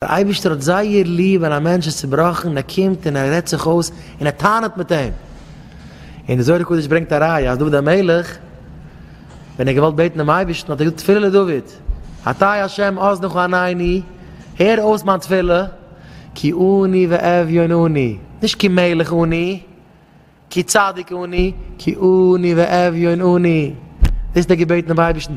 דער אייבערשטער האט זייער ליב ווען א מענטש איז צובראכן און ער קומט און ער רעדט זיך אויס און ער טענה'ט מיט אים, און די זוהר הקדוש ברענגט א ראיה אז דוד המלך ווען ער האט געוואלט בעטן דעם אייבערשטן האט ער געזאגט תפילה לדוד אתי השם אזנך ועניני, הער אויס מיין תפילה, כי עני ואביון אני, נישט כי מלך אני. כי צדיק אני, כי עני ואביון אני. דאס איז דער געבעט דעם אייבערשטן,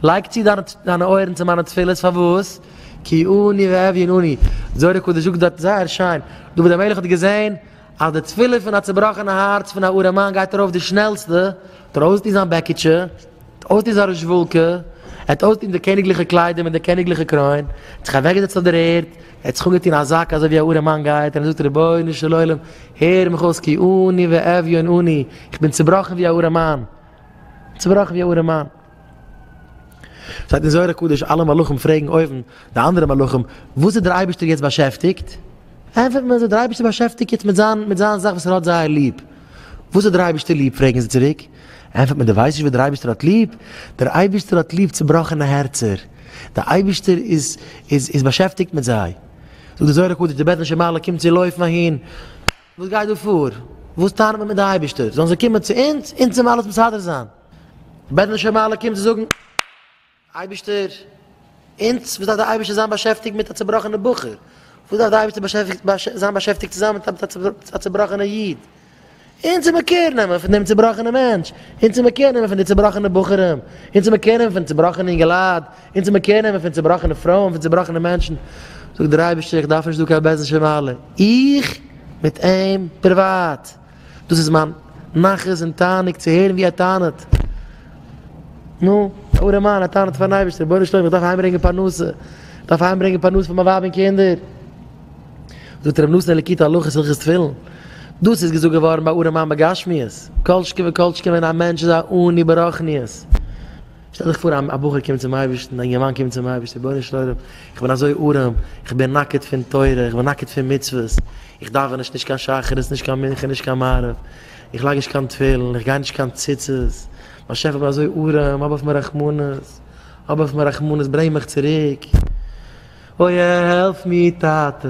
לייג צו דיינע אויערן צו מיינע תפילות, פארוואס? כי עני ואביון אני. זוהר הקדוש זאגט דארט זייער שיין, דוד המלך האט געזען אז די תפילה פון א צובראכענע הארץ פון א ארעמאן גייט ארויף די שנעלסטע, האט ער אויסגעטון זיין בעקיטשע, ער האט אויסגעטון זיין רוזשוואלקע, ער האט אויסגעטון די קעניגליכע קליידער מיט די קעניגליכע קרוין, ער האט זיך אוועקגעזעצט אויף דער ערד, ער האט זיך אפגעטון א זאק אזוי ווי א ארעמאן גייט און ער זאגט רבונו של עולם הער מיך אויס כי עני ואביון אני, איך בין צובראכן ווי א ארעמאן, צובראכן ווי א ארעמאן. שטייט אין זוהר הקדוש אלע מלאכים פרעגן אויבן די אנדערע מלאכים וואס איז דער אייבערשטער יעצט באשעפטיגט? ענפערט מען זיי דער אייבערשטער איז באשעפטיגט יעצט מיט זיין מיט זיין זאך וואס ער האט זייער ליב. וואס האט דער אייבערשטער ליב פרעגן זיי צוריק? ענטפערט מען, דו ווייסט נישט וואס דער אייבערשטער האט ליב? דער אייבערשטער האט ליב צעבראכענע הערצער, דער אייבערשטער איז באשעפטיגט מיט זיי. זאגט דער זוהר הקדוש, די בעטענישע מעלה קומט צו לויפן אהין, וואס גייט דא פאר? וואס טענה'ן מיר מיט די אייבערשטער? זאלן זיי קומען צו אונז, אונז זאלן אים אלעס מסדר זיין. די בעטענישע מעלה קומט צו זאגן. אייבערשטער, אונז, וואס דארף דער אייבערשטער זיין באשעפטיגט מיט א צובראכענע בחור? וואס דארף דער אייבערשטער זיין באשעפטיגט צוזאמען מיט א צובראכענע איד? אונז זאל מען קער נעמען פון דעם צובראכענעם מענטש, אונז זאל מען קער נעמען פון די צובראכענע בחורים, אונז זאל מען קער נעמען פון צובראכענע אינגעלייט, אונז זאל מען קער נעמען פון צובראכענע פרויען, פון צובראכענע מענטשן. זאגט דער אייבערשטער, איך דארף נישט דא קיין בעזעם של מעלה, איך מיט אים פריוואט. דאס איז מיין נחת און תענוג צו הערן ווי ער טענה'ט. נו, דער ארעמאן, ער טענה'ט פאר'ן אייבערשטער, רבונו של עולם, איך דארף אהיימברענגען פרנסה, איך דארף אהיימברענגען פרנסה פאר מיין ווייב און קינדער. זאגט רבי נתן אלקי תא הלכות הלכות תפילין, דאס איז געזאגט געווארן ביי ארעמאן בגשמיות, כל שכן וכל שכן ווען א מענטש איז א עני ברחניות. שטעל דיך פאר א בחור קומט צום אייבערשטן, א אינגערמאן קומט צום אייבערשטן, רבונו של עולם, איך בין אזוי ארעם, איך בין נאקעט פון תורה, איך בין נאקעט פון מצוות, איך דאווען נישט נישט קיין שחרית, נישט קיין מנחה, נישט קיין מעריב, איך לייג נישט קיין תפילין, איך גיי נישט קיין ציצית, באשעפער איך בין אזוי ארעם, האב אויף מיר רחמנות, האב אויף מיר רחמנות, ברענג מיך צוריק, אוי העלף מיר טאטע.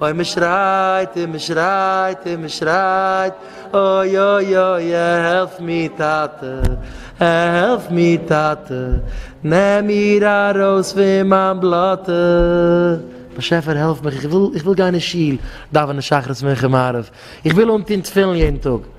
אוי מען שרייט און מען שרייט און מען שרייט אוי אוי אוי העלף מיר טאטע העלף מיר טאטע נעם מיר ארויס פון מיין בלאטע. באשעפער העלף מיך איך וויל איך וויל גיין אין שול דאווענען שחרית מנחה מעריב איך וויל אנטון תפילין יעדן טאג.